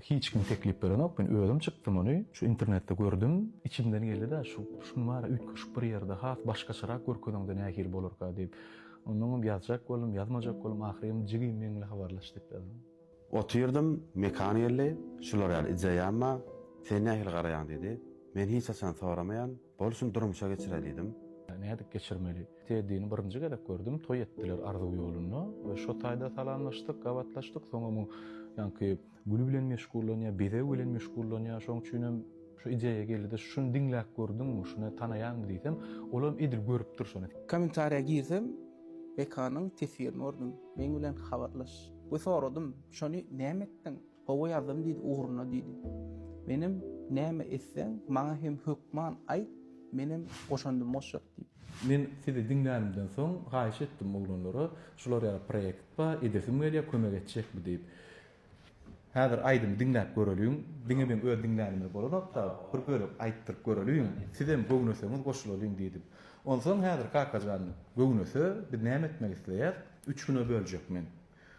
Hiç kim teklip berenok men özüm çykdym ony şu internetde gördüm içimden geldida şu şuny bari üýtgeşik bir ýerde has başgaçarak görkezeňde nähili bolarka diýip onnoňam ýazjak boldum ýazmajak boldum ahyry hem jigim meňle habarlaş diýip ýazdym. Otyrdym mekan geldi şular ýaly ideýam bar sen nähili garaýaň diýdi men hiç haçan soramaýan. Bolsun durmuşa geçire diýdim. Nädip geçirmeli? Teddini birinji gezek gördüm, toý etdiler Arzuw ýolunda we şo taýda salamlaşdyk, gabatlaşdyk. Soňam o ýaňky gül bilen meşgullanýar, bezeg bilen meşgullanýar. Şoň üçin hem şu ideýa geldi-de, şuny diňläp gördüňmi, şuny tanaýaňmy diýsem, ol hem edil görüpdir şony. Kommentariýa girsem, Bekanyň teswirini gördüm. Meň bilen habarlaş. We soradym, şony näme etdiň? Hawa ýazdym diýdi ugruna diýdi. Menem näme etseň maňa hem hökman aýt menem goşandym goşjak diýip. Men sizi diňlänimden soň haýyş etdim oglanlara şular ýaly proýekt ba edesim gelýä kömek etjekmi diýip. Häzir aýdymy diňläp göreliň diňe meň öz diňlänime bolanokda bir bölek aýtdyryp göreliň sizem göwneseňiz goşulalyň diýdim. Onsoň häzir Kakajan göwnese biz näme etmek isleýäs? Üç güne böljek men.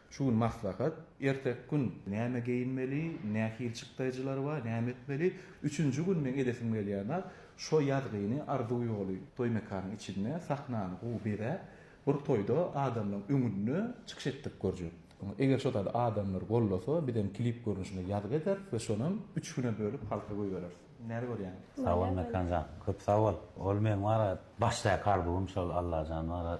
Şu gün maslahat, erteki gün näme geýinmeli, nähili çykdaýjylar bar, näme etmeli, üçünji gün meň edesim gelýär zat, şo ýazgyny Arzuw ýoly toý mekanyň içinde sahnany gowy bezäp, bir toýda adamlaryň öňünde çykyş etdirip görjek. Eger şo zady adamlar gollasa, bizem klip görnüşinde ýazgy ederis we şonam üç güne bölüp halka goýbereris. Näle görýäň? Sag bol Mekan jan. Köp sag bol. Ol meň wara başdaky arzuwym şol Allajan wara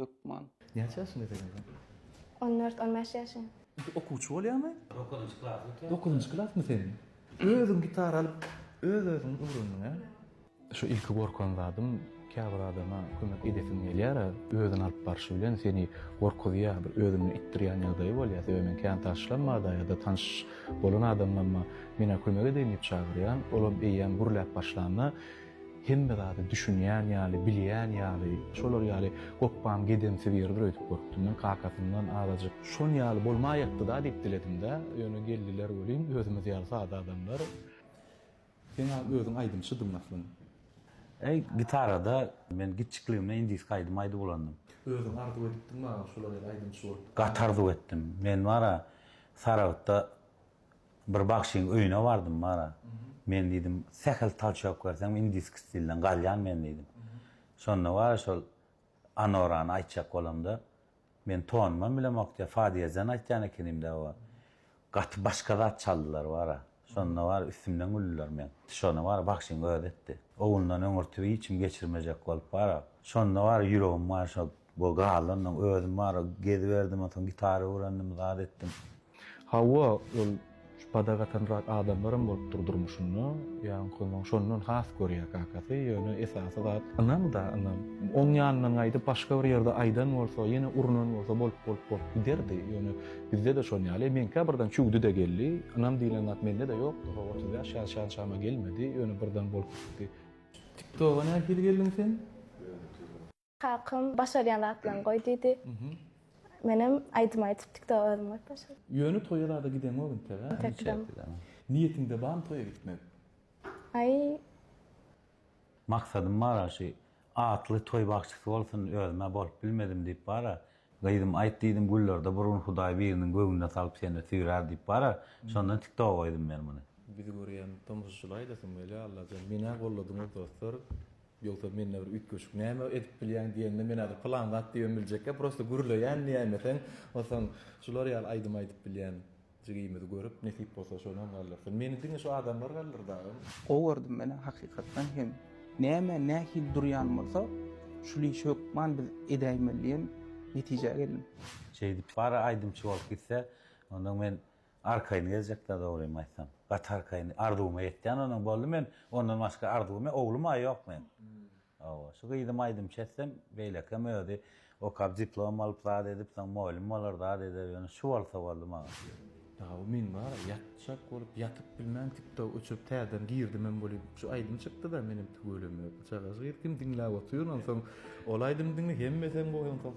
Hökman. Näçe ýaşyňda ekeniňiz? On dört, on bäş ýaşym. Indi okuwçy bolýaňmy? Dokuzynjy klasy bitirdim. Dokuzynjy klasmy seniň? Özüň gitara alyp, öz-özüňi öwrendiň, hä? Şu ilki gorkan zadym, käbir adama kömek edesiň gelýär-ä, özüni alyp barşy bilen seni gorkuzýar, bir özünden itdirýän ýagdaýy bolýar. Sebäbi men kän taşlama-da ýa-da tanyş bolan adamlama, Men-ä kömek edeýin diýip çagyrýan, olam eýýäm gürläp başlanda, Hemme zady düşünýän ýaly, bilýän ýaly, şolar ýaly gopbam gedemsiz ýerdir öýdüp görüpdim men, kakasyndan azajyk. Şon ýaly bolmaýakdy-da diýip diledim-dä, ýöne geldiler welin, özümiz ýaly sada adamlar. Sen-ä özüň aýdymçydyň aslynda. Äý, gitarada men giçjikligimden indiski aýdym aýdyp ulandym. Özüň arzuw edipdiňmi aga şolar ýaly aýdymçy bolup? Gaty arzuw etdim. Men bar-a, Saragtda Bir bagşyň öýüne bardym bara. Men diýdim, sähel talçok berseň indiski stilden galýan men diýdim. Şonda bara şol Anorany aýtjak bolamda, men tonunam bilemok diýýär, fa diýezen aýtýan ekenimdä oba. Gaty başga zat çaldylar bara. Şonda bara üstümden güldiler meň. Şony bara bagşyň özi etdi. Owundan öňürti hiç kim geçirmejek bolup bara. Şonda bara ýüregim bara şo Wogalyndan özüm bar geziberdim onsoň gitara öwrendim zat etdim. Hawa ol şu padak atanrak adamlaram bolupdyr durmuşynda ýaňkynyň şondan has görýär kakasy ýöne esasy zat ynam da ynam oň ýanyndan gaýdyp başga bir ýerde aýdan bolsa ýene urunan bolsa bolup bolup bolup giderdi ýöne bizdede şon ýaly men käbirden çüwdi de geldi ynam diýlen zat mende de ýokdy ho otuz bäş ýaş şan-şama gelmedi ýöne birden bolup gitdi. Tiktoga nähili geldiň sen? Kakam başarýan zatlaryňy goý diýdi. Menem aýdym aýdyp tiktok özüm goýup başladym. Ýöne toýa zada gideňok integä? Intek gideňok. Niýetiňde barmy toýa gitmek? Aý. Maksadym bara şy atly toý bagşysy bolsun özümä bolup bilmedim diýip bara gyzym aýt diýdim güllerde bir gün hudaý biriniň göwnüne salyp seni süýrär diýip bara şondan tiktoga goýdum men muny. Bizi görýän tomusçylaýdasym gelýä Allajan menä golladyňyz dostlar. Ýogsa mende bir üýtgeşik näme edip bilýäň diýende men häzir pylan zat diýibem biljekkä prosta gürleýän nämeseň onsoň şular ýaly aýdym aýdyp bilýän jigimizi görüp nesip bolsa şonam galdyrsyn meni diňe şu adamlar galdyrdy agam. Gowy gördüm menem hakykatdan hem näme nähili durýan bolsa şul işi hökman biz edäýmeli diýen netijä geldim. Şeýdip bar aýdymçy bolup gitse onda men Arkaýyn gezjekdä dogrymy aýtsam. Gaty arkaýyn. Arzuwyma ýetýän onam boldy. Men ondan başga arzuwym oglum-a ýok meň. Hawa, şu gyzym aýdymçy etsem, beýlekem özi okap diplom alyp zat edip, soň moýlym bolar, zat eder ýöne şu bolsa boldy maňa. Dagy men bara ýatjak bolup, ýatyp bilmän tiktok öçürip täzeden girdimem weli şu aýdym çykdyda menem tüweleme çagaş gyz kim diňläp otyryn onsoň ol aýdymy diňle hemmesem goýan soň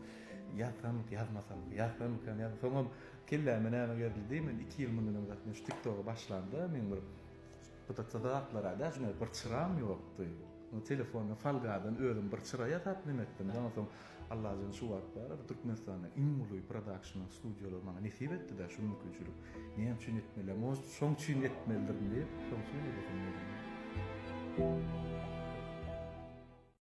ýatsam ýazmasam ýatsam ýazmasam soňam Kelläme näme gerildi men iki ýyl mundan öň zatyn şu tiktoga başlamda men bir pytyksa zatlara da şuna bir çyram ýokdy o telefonda falgadan özüm bir çyra ýasap neme etdim da onsoň Allajan şu wagt bar bir Türkmenistanda iň uly prodakşn studiýalar maňa nesip etdi da şu mümkinçilik näme üçin etmeli может şoň üçin etmelidirin diýip şoň üçin edesim geldi.